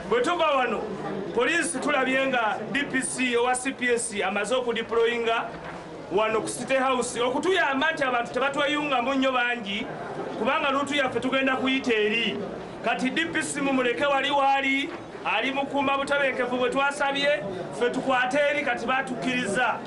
bwetuva wano poliisi tulabye nga dpc owa cps amaze okudiployinga wano ku city house okutuyamba nti abantu tebatweyungamu nnyo bangi kubanga luutu yaffe tugenda kuyita eri kati dpc mumuleke wali waali ali mukuuma butebenkevu bwe twasabye ffe tukwate eri kati batukkiriza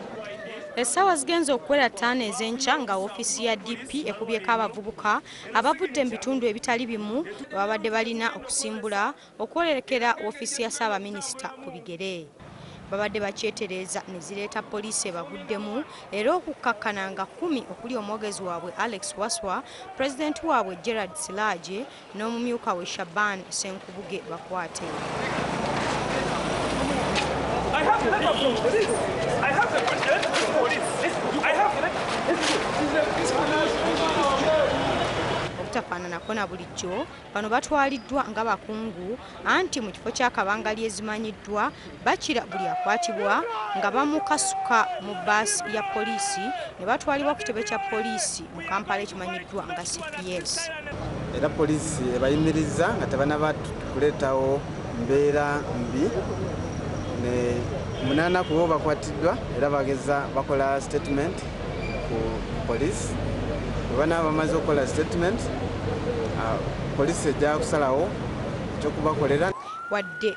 essaawa zigenze okukwera ttaano ez'enkya nga ofiisi ya dp ekubyeko abavubuka abavudde mu bitundu ebitali bimu babadde balina okusimbula okwolekera woofiisi ya Ssaabaminisita ku bigere babadde bakyetereeza ne zireeta poliisi ebaguddemu era okukkakkana nga kkumi okuli omwogezi waabwe Alex Waswa, Pulezidenti waabwe Gerald Silaaje n'omumyuka we Shaban Senku. Buge bakwate. I have the letter from police. I have the letter from police. I have the letter. obutafaananako na bulijjo bano batwaliddwa nga bakungu anti mu kifo ky'akabanga lyezimanyiddwa Bakira buli akwatibwa nga bamukasuka mu bbaasi ya poliisi ne batwalibwa ku kitebe kya poliisi mu Kampala ekimanyiddwa nga cps. Era poliisi ebayimirizza nga tebanaba kuleetawo mbeera mbi ne munaana ku bo bakwatiddwa era bageza bakola statement ku poliisi bwe banaba bamaze okukola statement ah, poliisi ejja kusalawo ekyokubakolera wadde